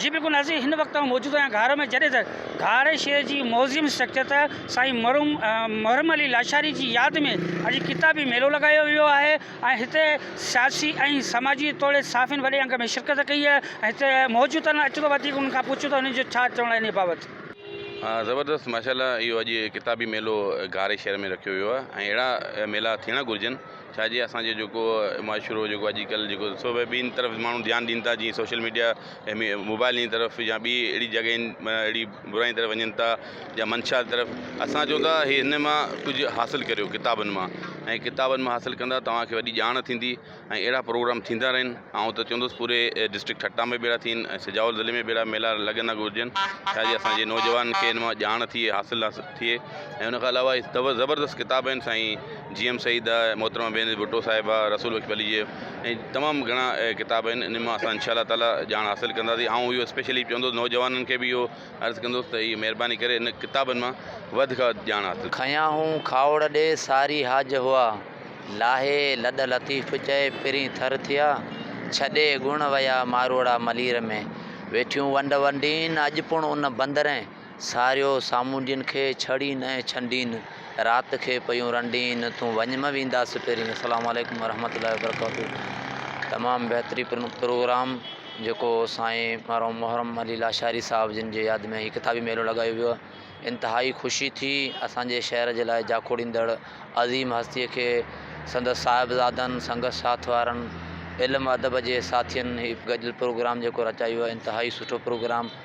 جي بيڪون نظير هن وقت تائين موجوده آهن گهارو ۾ جڏهن ته گهاري شهر جي موزيم اسٽرڪچر تحت سائين مرحوم محرم علي لاشاري جي ياد ۾ اڄ ڪتابي ميلو لڳايو ويو آهي ۽ هتي سياسي ۽ سماجي توڙي صحافين وڏي انگ ۾ شرڪت ڪئي آهي ۽ هتي موجود آهن اچو ته وڌيڪ انهن کان پڇون ته انهن جو ڇا چوڻ آهي انهي بابت. زبردست ماشاء الله اهو اڄ ڪتابي ميلو گهاري شهر ۾ رکيو ويو آهي ۽ اهڙا ميلا ٿيڻ گهرجن. ڇا جي اسان جو جيڪو معاشرو جيڪو اڄ ڪلھ جيڪو سو بھ ٻين طرف ماڻھو ڌيان ڏين ٿا جيئن سوشل ميڊيا موبائل جي طرف يا ٻي اھڙي جڳھين معنيٰ اھڙي براين طرف وڃن ٿا يا منشا جي طرف اسان چون ٿا ھي ھن مان ڪجھ حاصل ڪريو ڪتابن مان ۽ ڪتابن مان حاصل ڪندا توھان کي وڏي ڄاڻ ٿيندي ۽ اھڙا پروگرام ٿيندا رھن آئون ته چوندس پوري ڊسٽرڪٽ ٺٽا ۾ بھ اھڙا ٿين ۽ سجاول ضلعي ۾ بھ اھڙا ميلا لڳندا گھرجن ڇا جي اسان جي نوجوانن کي ھن مان ڄاڻ ٿئي حاصل ٿئي ۽ ان کان علاوه هي زبردست ڪتاب آهن سائين جي ايم سعيد جا محترمه بينظير ڀٽو صاحبه رسول بخش ڀلي جي ۽ تمام گهڻا ڪتاب آهن انهن مان اسان انشاء الله تعاليٰ ڄاڻ حاصل ڪنداسين آئون اهو اسپيشلي چوندس نوجوانن کي به اهو عرض ڪندس ته هي مهرباني ڪري ان ڪتابن مان وڌ کان وڌ ڄاڻ حاصل کنيا هون کاوڙ ڏي ساري حاج هئا لاهي لڏ لطيف چئي پرين ٿر ٿيا ڇڏي ڳڻ ويا ماروئڙا ملير ۾ ويٺيون ونڊ ونڊين اڄ پڻ ان بندرين. ساريو سامونڊين کي ڇڙين ۽ ڇنڊين، رات کي پيون رنڊين، تون وڃ م ويندا سپيرين. السلام عليڪم ورحمة الله وبرڪاته تمام بهتري پروگرام جيڪو سائين مرحوم محرم علي لاشاري صاحب جن جي ياد ۾ هي ڪتابي ميلو لڳايو ويو انتهائي خوشي ٿي اسان جي شهر جي لاء جاکوڙيندڙ عظيم هستي کي سندس صاحبزادن سنگت ساٿ وارن علم ادب جي ساٿين هي گڏيل پروگرام جيڪو رچايو انتهائي سٺو پروگرام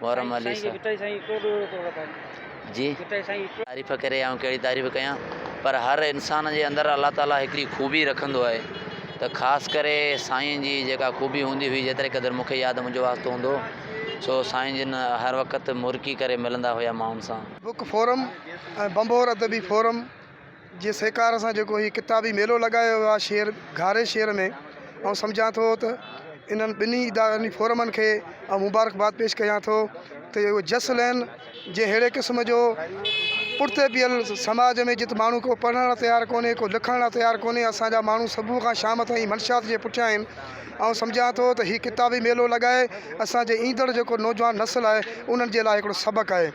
محرم علي صاحب جي تعريف ڪري آئون ڪهڙي تعريف ڪيان پر هر انسان جي اندر الله تعاليٰ هڪڙي خوبي رکندو آهي ته خاص ڪري سائين جي جيڪا خوبي هوندي هئي جيتري قدر مونکي ياد منهنجو واسطو هوندو سو سائين جن هر وقت مرڪي ڪري ملندا هيا ماڻهن سان بڪ فورم ۽ بنڀور ادبي فورم جي سهڪار سان جيڪو هي ڪتابي ميلو لڳايو ويو آهي شهر گهاري شهر ۾ آئون سمجهان ٿو ته انهن ٻنهي ادارن فورمن کي آئون مبارڪباد پيش ڪيان ٿو ته اهو جس لين جي ههڙي قسم جو پٺتي پيل سماج ۾ جت ماڻهو ڪو پڙهڻ لاء تيار ڪونهي ڪو لکڻ لاء تيار ڪونهي اسان جا ماڻهو صبح کان شام تائين منشيات جي پٺيان آهن آئون سمجهان ٿو ته هي ڪتابي ميلو لڳائي اسان جي ايندڙ جيڪو نوجوان نسل آهي انهن جي لاء هڪڙو سبق آهي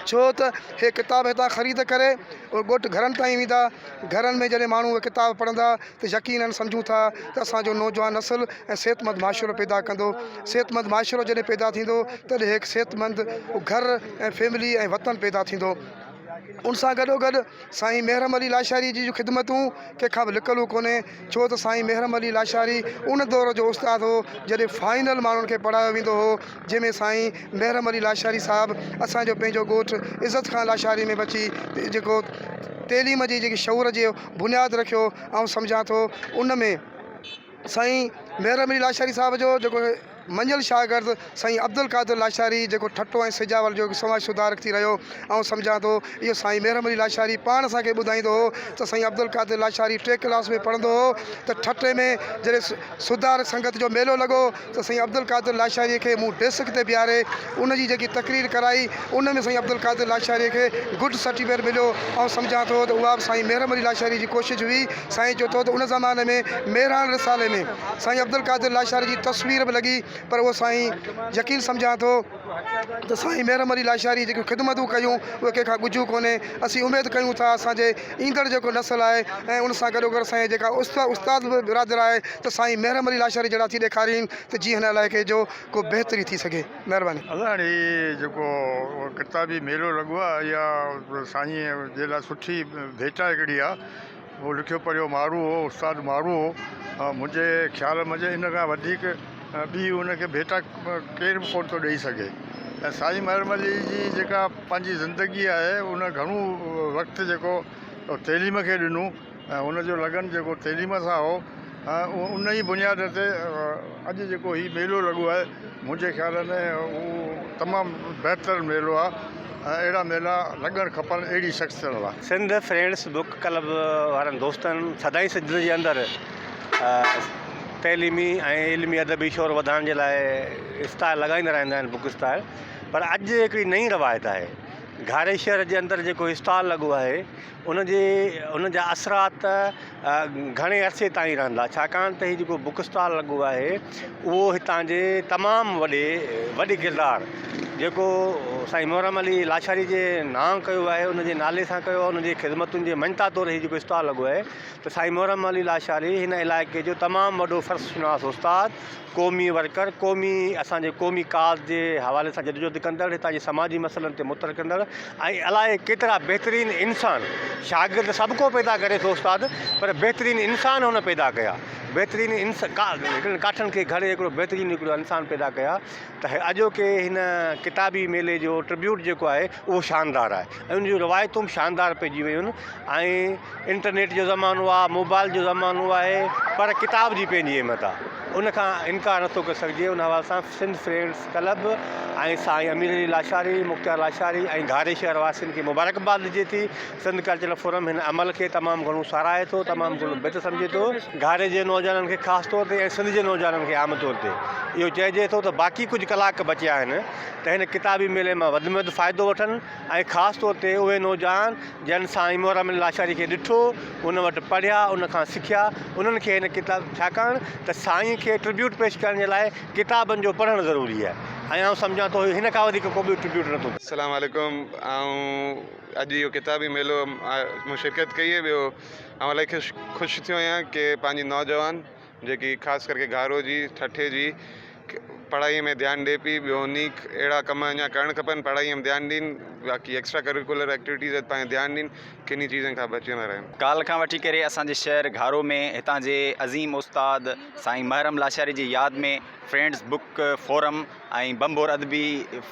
ڇو ته اهي ڪتاب هتان خريد ڪري اهي ڳوٺ گهرن تائين ويندا. گهرن ۾ جڏهن ماڻهو اهي ڪتاب پڙهندا ته يقينن سمجهون ٿا ته اسان جو نوجوان نسل ۽ صحتمند معاشرو پيدا ڪندو. صحتمند معاشرو جڏهن پيدا ٿيندو تڏهن هڪ صحتمند گهر ۽ فيملي ۽ وطن پيدا ٿيندو. ان سان گڏوگڏ سائين مهرم علي لاشاري جي جون خدمتون ڪنهن کان به لڪل ڪونهي. ڇو ته سائين محرم علي لاشاري ان دور جو استاد هو جڏهن فائنل ماڻهن کي پڙهايو ويندو هو جنهن ۾ سائين محرم علي لاشاري صاحب اسان جو پنهنجو ڳوٺ عزت خان لاشاري ۾ به اچي جيڪو تعليم جي جيڪي شعور جي بنياد رکيو آئون سمجهان ٿو ان ۾ سائين محرم علي لاشاري صاحب جو جيڪو منجهيل شاگرد سائين عبدالقادر لاشاري جيڪو ٺٽو ۽ سجاول جو هڪ سماج سڌارڪ ٿي رهيو. آئون سمجهان ٿو اهو سائين مهرم علي لاشاري پاڻ اسان کي ٻڌائيندو هو ته سائين عبدالقادر لاشاري ٽي ڪلاس ۾ پڙهندو هو ته ٺٽي ۾ جڏهن سڌارڪ سنگت جو ميلو لڳو ته سائين عبدالقادر لاشاري کي مون ڊيسڪ تي بيهاري ان جي جيڪي تقرير ڪرائي ان ۾ سائين عبدالقادر لاشاريء کي گڊ سرٽيفڪيٽ مليو. آئون سمجهان ٿو ته اها به سائين محرم علي لاشاريء جي ڪوشش هئي. سائين چئو ٿو ته ان زماني ۾ مهراڻ رسالي ۾ سائين عبدالقادر لاشاريء جي تصوير به لڳي پر اهو سائين يقين سمجهان ٿو ته سائين محرم علي لاشاريء جيڪيون خدمتون ڪيون اهي ڪنهن کان ڳجهيون ڪونهي. اسين اميد ڪيون ٿا اسان جي ايندڙ جيڪو نسل آهي ۽ ان سان گڏوگڏ سائين جيڪا استاد به برادر آهي ته سائين محرم علي لاشاريء جهڙا ٿي ڏيکارين ته جيئن هن علائقي جو ڪو بهتري ٿي سگهي. مهرباني. الله هاڻي هي جيڪو ڪتابي ميلو لڳو آ اها سائين جي لاء سٺي ڀيٽا هڪڙي آ اهو لکيو پڙهيو مارو هو استاد مارو هو منهنجي خيال منجهه ان کان وڌيڪ ٻي ان کي ڀيٽا ڪير به ڪون ٿو ڏئي سگهي ۽ سائين محرم علي جي جيڪا پنهنجي زندگي آهي ان گهڻو وقت جيڪو تعليم کي ڏنو ۽ هن جو لگن جيڪو تعليم سان هو ان ئي بنياد تي اڄ جيڪو هي ميلو لڳو آهي منهنجي خيال ۾ هو تمام بهتر ميلو آهي ۽ اهڙا ميلا لڳڻ کپن اهڙي شخصيتن لاء. سنڌ فرينڊس بوڪ ڪلب وارن دوستن سدائين سنڌ جي اندر تعليمي ۽ علمي ادبي شور وڌائڻ جي لاء اسٽال لڳائيندا رهندا آهن بوڪ اسٽال پر اڄ هڪڙي نئين روايت آهي گهاريشهر جي اندر جيڪو اسٽال لڳو آهي ان جي ان جا اثرات گهڻي عرصي تائين رهندا ڇاڪاڻ ته هي جيڪو بوڪ اسٽال لڳو آهي اهو هتان جي تمام وڏي وڏي ڪردار جيڪو سائين محرم علي لاشاري جي نانء ڪيو آهي ان جي نالي سان ڪيو آهي ان جي خدمتن جي مڃتا طور هي جيڪو اسٽال لڳو آهي ته سائين محرم علي لاشاري هن علائقي جو تمام وڏو فرش شناس استاد قومي ورڪر، قومي اسان جي قومي ڪاز جي حوالي سان جدوجهد ڪندڙ، هتان جي سماجي مسئلن تي متل ڪندڙ ۽ الائي ڪيترا بهترين انسان، شاگرد سڀ ڪو پيدا ڪري ٿو استاد پر بهترين انسان هن پيدا ڪيا، بهترين انس ڪا هڪڙن ڪاٺن کي گهڙي هڪڙو بهترين هڪڙو انسان پيدا ڪيا ته اڄوڪي هن ڪتابي ميلي جو ٽربيوٽ جيڪو آهي اهو شاندار آهي. ۽ ان جون روايتون به شاندار پئجي ويون ۽ انٽرنيٽ جو زمانو آ موبائل جو زمانو آهي پر ڪتاب جي پنهنجي اهميت آ ان کان انڪار نٿو ڪري سگهجي ان حوالي سان سنڌ فرينڊس ڪلب ۽ سائين امير علي لاشاري مختيار لاشاري ۽ گهاري شهر واسين کي مبارڪباد ڏجي ٿي سنڌ ڪلچرل فورم هن عمل کي تمام گهڻو ساراهي ٿو تمام گهڻو بهتر سمجهي ٿو گهاري جي نوجوانن کي خاص طور تي ۽ سنڌ جي نوجوانن کي عام طور تي اهو چئجي ٿو ته باقي ڪجهه ڪلاڪ بچيا آهن ته هن ڪتابي ميلي مان وڌ ۾ وڌ فائدو وٺن ۽ خاص طور تي اهي نوجوان جن سائين محرم علي لاشاري کي ڏٺو، ان وٽ پڙهيا، ان کان سکيا، انهن کي هن ڪتاب ڇاڪاڻ ته سائين کي ٽربيوٽ پيش ڪرڻ جي لاء ڪتابن جو پڙهڻ ضروري آهي ۽ آئون سمجهان ٿو هن کان وڌيڪ ڪو ٻيو ٽربيوٽ نه ٿو ڪري. السلام عليڪم آئون اڄ اهو ڪتابي ميلو م شرڪت ڪئي ٻيو آئون الائي خوش خوش ٿيو آهيان ڪي پنهنجي نوجوان جيڪي خاص ڪرڪي گهارو جي ٺٽي جي پڙهائي ۾ ڌيان ڏي پئي ٻيو نيڪ اهڙا ڪم اڃا ڪرڻ کپن پڙهائي ۾ ڌيان ڏين باقي ايڪسٽرا ڪريڪولر ايڪٽيوٽيز تي پنهنجو ڌيان ڏين ڪنهن چيزن کان بچيندا رهن. ڪالهه کان وٺي ڪري اسان جي شهر گهارو ۾ هتان جي عظيم استاد سائين محرم لاشاري جي ياد ۾ فرينڊز بوڪ فورم ۽ ڀنڀور ادبي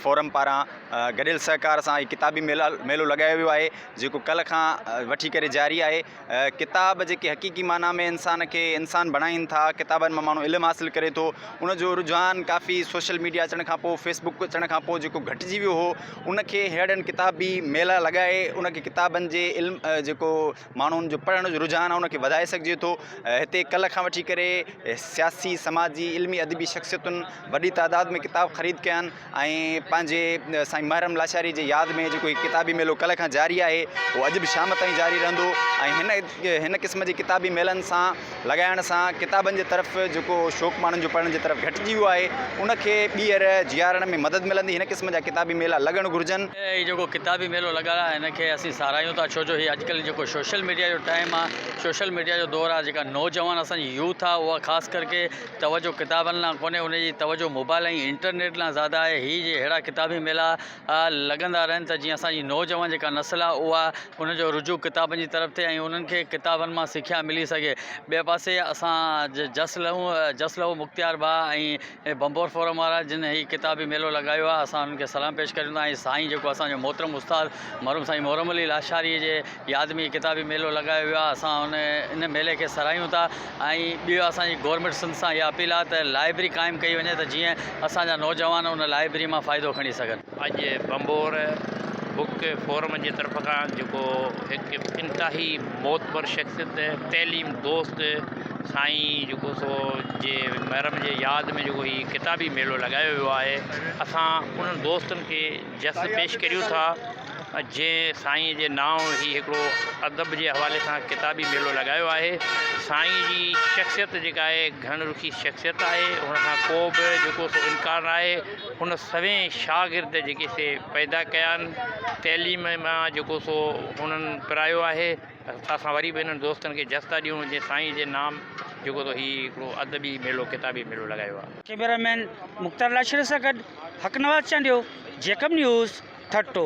فورم پاران گڏيل سهڪار سان هي ڪتابي ميلو لڳايو ويو آهي جيڪو ڪالهه کان وٺي ڪري جاري آهي ڪتاب جيڪي حقيقي معنيٰ ۾ انسان کي انسان بڻائين ٿا، ڪتابن مان ماڻهو علم حاصل ڪري ٿو، ان جو رجحان ڪافي سوشل ميڊيا اچڻ کان پوء فيس بڪ اچڻ کان پوء جيڪو گهٽجي ويو هو ان کي ههڙن ڪتابي ميلا لڳائي ان کي ڪتابن جي علم جيڪو ماڻهن جو پڙهڻ جو رجحان آهي ان کي وڌائي سگهجي ٿو هتي ڪلهه کان وٺي ڪري سياسي سماجي علمي ادبي شخصيتن وڏي تعداد ۾ ڪتاب خريد ڪيا آهن ۽ پنهنجي سائين محرم لاشاري جي ياد ۾ جيڪو هي ڪتابي ميلو ڪلهه کان جاري آهي اهو اڄ به شام تائين جاري رهندو ۽ هن هن قسم جي ڪتابي ميلن سان لڳائڻ سان ڪتابن جي طرف جيڪو شوق ماڻهن جو پڙهڻ جي طرف گهٽجي ويو آهي ان کي ٻيهر جيارڻ ۾ مدد ملندي هن قسم جا ڪتابي ميلا لڳڻ گهرجن. هي جيڪو ڪتابي ميلو لڳل آهي هن کي اسين ساراهيون ٿا ڇو جو هي اڄ ڪلهه جيڪو سوشل ميڊيا جو ٽائيم آهي سوشل ميڊيا جو دور آهي جيڪا نوجوان اسان جي يوٿ آهي اها خاص ڪرڪي توجه ڪتابن لان ڪونهي ان جي توجه موبائل ۽ انٽرنيٽ لان زياده آهي هي جي ههڙا ڪتابي ميلا لڳندا رهن ته جيئن اسان جي نوجوان جيڪا نسل آهي اها ان جو رجوع ڪتابن جي طرف ٿئي ۽ انهن کي ڪتابن مان سکيا ملي سگهي ٻئي پاسي اسان جس لهون جس لهو مختيار ڀاء ۽ ڀنڀور فورم وارا جن هي ڪتابي ميلو لڳايو آهي اسان انهن کي سلام پيش ڪريون ٿا ۽ سائين جيڪو اسان جو محترم استاد مرحوم سائين محرم علي لاشاري جي ياد ۾ هي ڪتابي ميلو لڳايو ويو آهي اسان ان ان ميلي کي سراهيون ٿا ۽ ٻيو اسان جي گورنمينٽ سنڌ سان اها اپيل آهي ته لائبرري قائم ڪئي وڃي ته جيئن اسان جا نوجوان ان لائبرري مان فائدو کڻي سگهن. اڄ ڀنڀور بوڪ فورم جي طرف کان جيڪو هڪ انتهائي معتبر شخصيت تعليم دوست سائين جيڪو سو جي محرم جي ياد ۾ جيڪو هي ڪتابي ميلو لڳايو ويو آهي اسان انهن دوستن کي جس پيش ڪريون ٿا جي سائين جي نانء هي هڪڙو ادب جي حوالي سان ڪتابي ميلو لڳايو آهي سائين جي شخصيت جيڪا آهي گهڻ رخي شخصيت آهي ان کان ڪو به جيڪو سو انڪار نه آهي هن سوين شاگرد جيڪي سي پيدا ڪيا آهن تعليم مان جيڪو سو هنن پرايو آهي اسان وري به انهن دوستن کي جستا ڏيون جنهن سائين جي نام جيڪو تو هي هڪڙو ادبي ميلو ڪتابي ميلو لڳايو آ. ڪيميرا مين مختار لاشري سان گڏ حقنواز چانڊيو، جيڪب نيوز، ٺٽو.